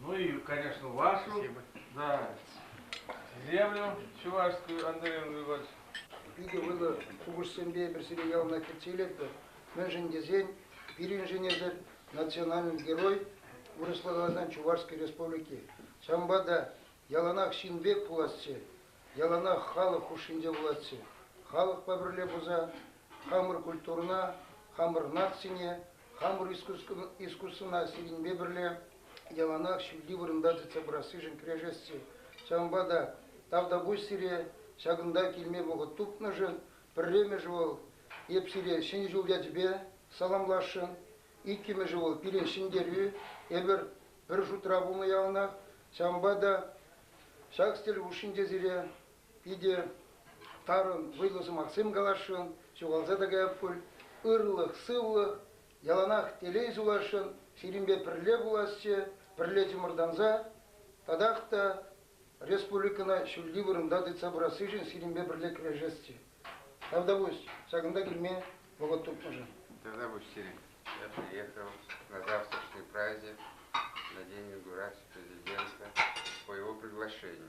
Ну и, конечно, вашу, да, землю чувашскую, Андрей Андреевич. Питӗ вӑйлӑ купӑссемпе эпир сире яланах кӗтсе илетпӗр. Мӗншӗн тесен пирӗншӗн эсир национальный герой вырӑсла каласан Чувашской Республики. Ҫавӑнпа та яланах ҫын пек пуласчӗ, яланах халӑх хушшинче пуласчӗ. Халӑхпа пӗрле пулса хамӑр культурӑна, хамӑр нацине хамӑр искусствӑна сирӗнпе пӗрле яланах ҫӳлти вырӑнта тытса пырассишӗн кӗрешесси, ҫавӑнпа та тавтапуҫ сире ҫакӑнта килме вӑхӑт тупнӑшӑн. Пӗрремӗшӗ вӑл, эп сире Ҫӗнӗ ҫул ячӗпе саламласшӑн. Иккӗмӗшӗ вӑл, пире ҫӗнтерӳ. Эпир пӗр шутра пулнӑ яланах, ҫавӑнпа та ҫак стель хушшинче сире Питӗ тарӑн вӑйлӑ сӑмахсем каласшӑн, ҫухалса та каять пуль. Ырлӑх-сывлӑх, яланах телей сунасшӑн, сирӗнпе пӗрле пуласчӗ, пӗрле чӑмӑртанса татах та республикӑна ҫӳлти вырӑнта тытса пырассишӗн сирӗнпе пӗрле кӗрешесчӗ. Тавтапуҫ ҫакӑнта килме вӑхӑт тупнӑшӑн. Тавтапуҫ сирӗн. Я приехал на завтрашний праздник на День инаугурации президента по его приглашению.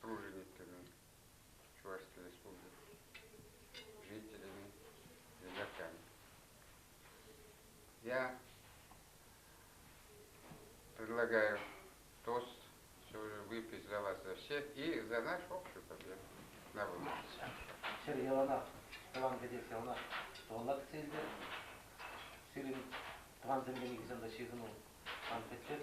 пружинникӗн Чувашский Республики жителӗн юлакан. Я предлагаю тост сегодня выпить за вас за всех и за наш общий победу на выборах. Ҫӗр яланах тӑван кӗтес яланах тӑваллак целде. Сирӗн тӑван землене килсен ҫыхӑну ан пӗтсек.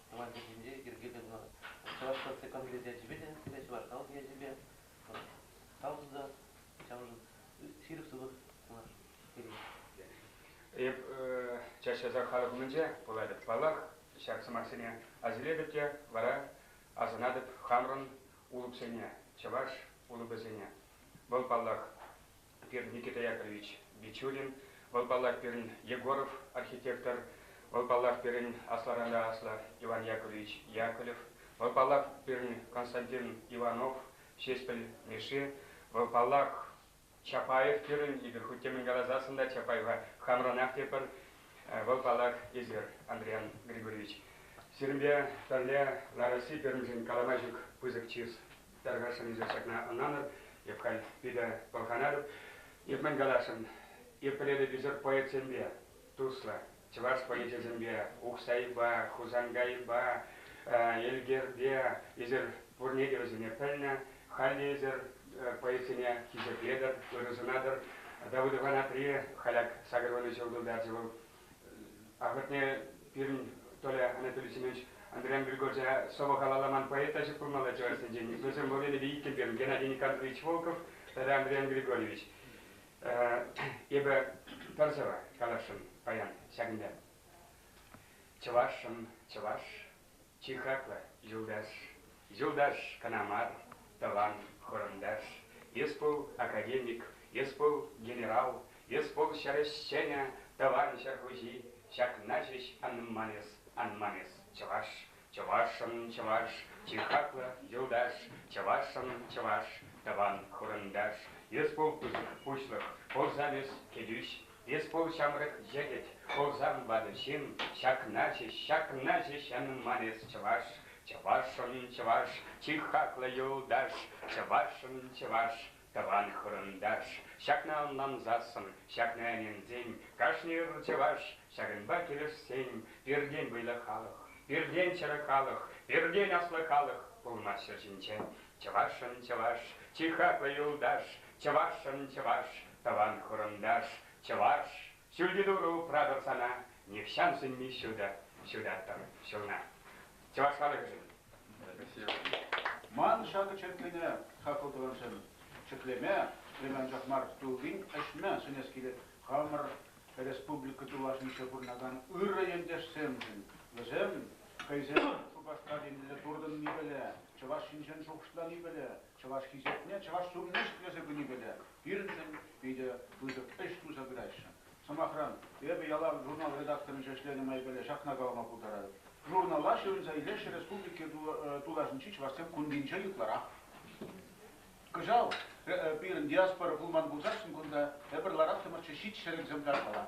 тӑван чӗлхене йӗрке тытнӑ чӑваш наци конгресс ячӗпе те пире чӑваш халӑх ячӗпе тав тунӑ ҫавӑншӑн ҫирӗп сывлӑх сунас пирӗн. Эп час-часах халӑх умӗнче пулатӑп. Паллах, ҫак сӑмахсене асилетӗп те вара асӑнатӑп хамӑрӑн улӑпсене, чӑваш улӑпӗсене. Вӑл, паллах, пирӗн Никита Яковлевич Бичурин, вӑл паллах пирӗн Егоров архитектор, вӑл паллах пирӗн асларан-та аслӑ Иван Яковлевич Яковлев, вӑл паллах пирӗн Константин Иванов, Ҫеҫпӗл Мишши, вӑл паллах Чапаев пирӗн, эпир хуть те мӗн каласассӑн та Чапаева хамранах тепӗр, вӑл паллах эсир, Андриан Григорьевич. Сирӗнпе пӗрле Лароси пирӗншӗн калама ҫук пысӑк чыс. Тӑркассӑн эсир ҫакна ӑнланӑр, эп халь питӗ пӑлханатӑп. Эп мӗн каласшӑн, эп пӗлетӗп-ӳсӗр поэтсемпе туслӑ, чӑваш поэчӗсемпе Ухсайпа, Хусанкайпа, Элкерпе, эсир пурне те вӗсене пӗлнӗ. Халь те эсир поэтсене хисеплетӗр, ырӑ сунатӑр. Давыдов Анатри Халяк сакӑрвунӑ ҫул тултарчӗ вӑл. Ахӑртне пирӗн Толя Анатолий Семенович Андриан Григорьевича сӑвӑ калаламан поэта ҫупмалла чӑвашсенчен. Вӗсем Валерий Ильин пирӗн Геннадий Николаевич Волков тата Андриан Григорьевич. Эпӗ пӗр сӑвӑ каласшӑн паян ҫакӑнта. Чӑвашшӑн, чӑваш. Чи хаклӑ юлташ, юлташ кӑна мар, тӑван, хурӑнташ, эс пул академик, эс пул генерал, эс пул ҫӗр ӗҫченӗ, тӑван ҫӗр хуҫи, ҫакна ҫеҫ анман эс, анман эс, чӑваш, чӑвашӑн чӑваш, чи хаклӑ юлташ, чӑвашӑн чӑваш, тӑван, хурӑнташ, эс пул пуҫлӑх, пурсан эс кӗтӳҫ, Эс пул ҫамрӑк йӗкӗт, кулса ӑнланӑ ҫын, ҫакна ҫеҫ, ҫакна ҫеҫ янӑнман эс чӑваш, чӑвашшӑн чӑваш, чи хаклӑ юлташ, чӑвашшӑн чӑваш, тӑван хурӑнташ. Ҫакна ӑнлансассӑн, ҫакна ӗненсен, кашни ыр чӑваш, ҫакӑнпа килӗшсен, пиртен вӑйлӑ халӑх, пиртен чӗрӗ халӑх, пиртен аслӑ халӑх пулмаҫҫӗ ҫинчен Чӑвашӑн чӑваш, чи хаклӑ юлташ, чӑвашӑн чӑваш, тӑван-хурӑнташ, чӑваш! Ҫӳлти турӑ упратӑр сана, нихҫан сӳнми ҫутӑ ҫутаттӑр ҫулна. Чӑваш халӑхӗшӗн! Ман ҫакӑ черккене хаклӑ тӑвансем, ҫӗклеме, ӗҫлеме анчах мар, туллин ӗҫме сӗнес килет хамӑр республика тулашӗнче пурӑнакан ырӑ ентешсемшӗн. Вӗсем Хӑйсем Шупашкар енне туртӑнни пӗлӗ, чӑваш ҫинчен шухӑшлани пӗлӗ, чӑваш хисепне чӑваш ҫумне ҫӗклесе пыни пӗлӗ, пирӗншӗн питӗ пысӑк ӗҫ туса пыраҫҫӗ. Сӑмахран, эпӗ ялав журнал редакторӗнче ӗҫленӗ май пӗлӗ ҫакна калама пултарать, журнала ҫырӑнса илеҫҫӗ республика тулашӗнчи чӑвашсем кунтинче ытларах. Кӑҫал пирӗн диаспора пулман пулсассӑн кунта эпир лараттӑмӑрччӗ ҫич ҫӗрӗксем тарпала.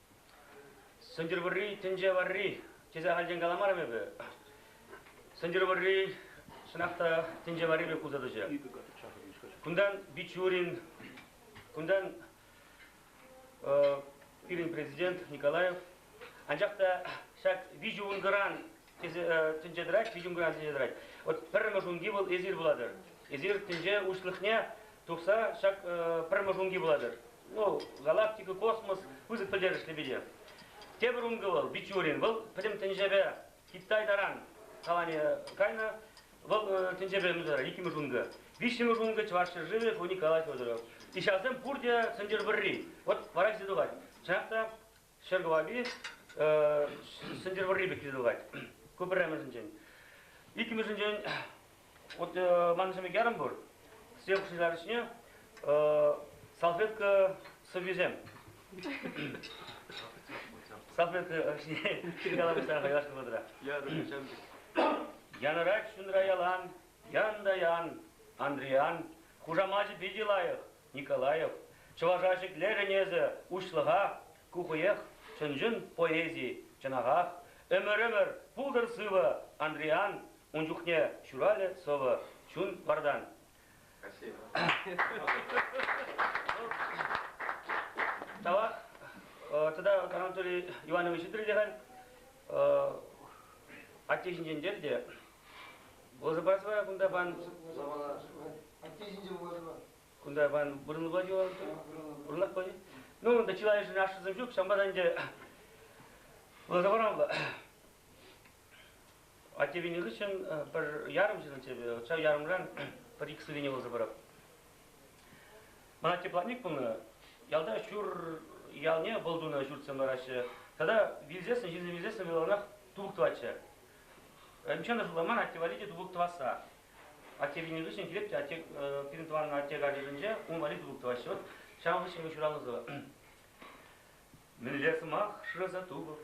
Сӗнтӗрвӑрри тӗнче варри тесе ахальтен каламарӑм эпӗ. Сӗнтӗрвӑрри чӑнах та тӗнче варри пек пулса тӑчӗ. Кунтан Бичурин, кунтан пирӗн президент Николаев. Анчах та ҫак виҫӗ ункӑран тӗнче тӑрать, витӗм куян тӗнче тӑрать. Вот пӗрремӗш унки вӑл эсир пулатӑр. Эсир тӗнче уҫлӑхне тухса ҫак пӗрремӗш унки пулатӑр. Ну, галактика, космос пысӑк пӗлтерӗшлӗ питӗ. Тепӗр ункӑ вӑл Бичурин. Вӑл пӗтӗм тӗнчепе Китай таран калани кайнӑ. Вӑл тӗнчепе мӗн тӑрать? Иккӗмӗш ункӑ. Виҫҫӗмӗш ункӑ Чӑваш ҫӗршывӗ Фоник Николай Федоров. И ҫавсем пурте сӑнчӑр вӑрри. Вот вара ҫисе тухать. Чӑнах та ҫӗр кӑвапи Сӗнтӗрвӑрри пек йӑтӑлать. Ку пӗрремӗшӗнчен. Иккӗмӗшӗнчен, вот манӑн сӗмекерӗм пур, сев шыҫаричне салфетка сӑввисем. Салфетка ҫине калаҫса хайлашнӑ вӑтӑра. Ярӑр, чамдик. Янӑрать чунра ялан, ян та ян, Андриян, хушамачӗ питӗ лайӑх, Николаев, чӑваша шиклерӗн эсӗ, уҫлӑха, ку хӑех чӑн-чӑн поэзи, чӑнахах. Ӗмӗр-ӗмӗр пултӑр сывӑ, Андриян, ун чухне ҫуралӗ сӑвӑ чун вартан. Тава тата Анатолий Иванович Итӗрӗлехань атте ҫинчен терӗ те Вӑлӑсӑпа сӑвая кунта пан. Атте ҫинче вӑлӑсӑпа. Кунта пан. Вырӑнлӑ паҫи вӑл. Вырӑнлах паҫи. Ну, ӗнтӗ чылайӑшӗн ашшӗсем ҫук. Ҫавӑнпа та ӗнтӗ вӑлӑсӑпа вӑл. Атте вилнӗ хыҫҫӑн пӗр ярӑм ҫынӑччӗ эпӗ. Ҫав ярӑмран пӗр икӗ сӗтене вӑлӑса парап. Ман атте платник пулнӑ. Ялта ҫур ялне вӑл тунӑ ҫуртсем лараҫҫӗ. Тата вилсессӗн, ҫынсем вилсессӗн вӑл аванах турк тӑватчӗ. Ӗмчен ӑшӑлла мар, атте валли те тупӑк тӑвасса. Атте вилнӗ хыҫҫӑн килеп те атте, пирӗн тӑван атте картишӗнче ун валли тупӑк тӑваҫҫӗ. Вӑт, ҫавӑн хыҫҫӑн вӑл ҫуралнӑ Мӗнле сӑмах шыраса тупӑп,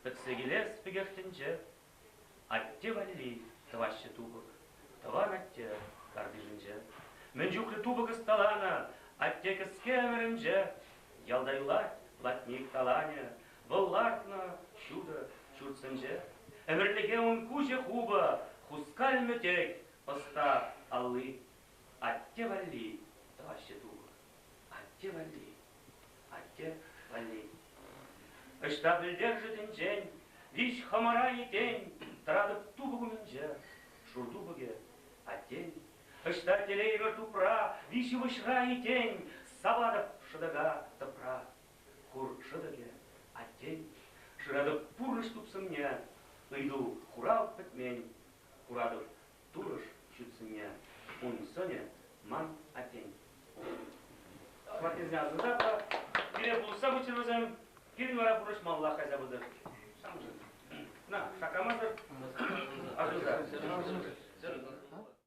пӗтсе килес пекех тӗнче. Атте валли тӑваҫҫӗ тупӑк, тӑван атте картишӗнче. Мӗн чухлӗ тупӑк ӑсталанӑ атте кӗске ӗмӗрӗнче. Ялта юлать латник таланӗ, Вӑл лартнӑ ҫутӑ ҫуртсенче ӗмӗрлӗхе ун куҫӗ хупӑ хускал мӗтек ӑста алли. Атте валли тӑваҫҫӗ тупӑ. Атте валли. Атте валли. Ӑҫта пӗлтершӗ тӗнчен, виҫ хӑмӑра этен, тӑратӑп тупӑк умӗнче. Шур тупӑкӗ, аттен. Ӑҫта телеймӗр тупра, виҫ ывӑҫра этен, саватӑп шӑтӑка тӑпра. Хур шӑтӑкӗ, Аттен. Шыратӑп пурнӑҫ тупсӑмне, Ыйту, хурав пӗтмен. Куратӑп турӑш ҫутсӑмне, Ун сӑнӗ ман аттен. Хваттерне асӑрхап та, пире пулӑшса пыччӑр вӗсем, пирӗн вара пурнӑҫмаллах кайса пытӑр. На, шаккамасӑр, асӑрхса.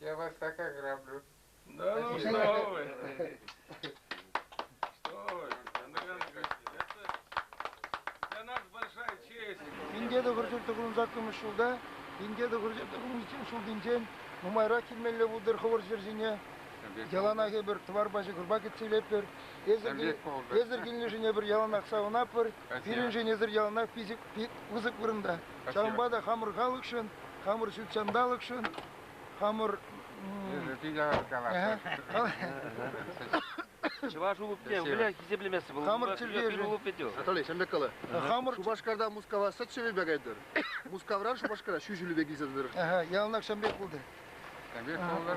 Я вас так ограблю. Да ну что вы! Что вы, Андрей Андреевич, это для нас большая честь. Пинте те кӗртӳл тӑкӑлӑн саккӑмӑш ҫулта, пинте те кӗртӳл тӑкӑлӑн ҫултинчен нумайрах килмелле пултӑр хӑвӑр ҫӗр ҫине. Яланах эпир тӑвар пачӗ кӑрпа кӗтсе илетпӗр. Эсӗр, эсӗр килнишӗне пӗр яланах савӑнатпӑр. Пирӗншӗн эсӗр яланах пысӑк вырӑнта. Ҫавӑнпа та хамӑр халӑхшӑн, хамӑр ҫут ҫанталӑкшӑн Хамӑр... Чӑваш улупне выля хисеплемессӗ вӑл. Хамӑр чӗлхе Анатолий, ҫемлек кала. Хамӑр Шупашкарта Мускава сӗт ҫӗвепе кайтӑр. Мускавран Шупашкара ҫӳ ҫӳлепе килсе тӑтӑр. Яланах ҫемлек пултӑр. Ҫемлек пултӑр.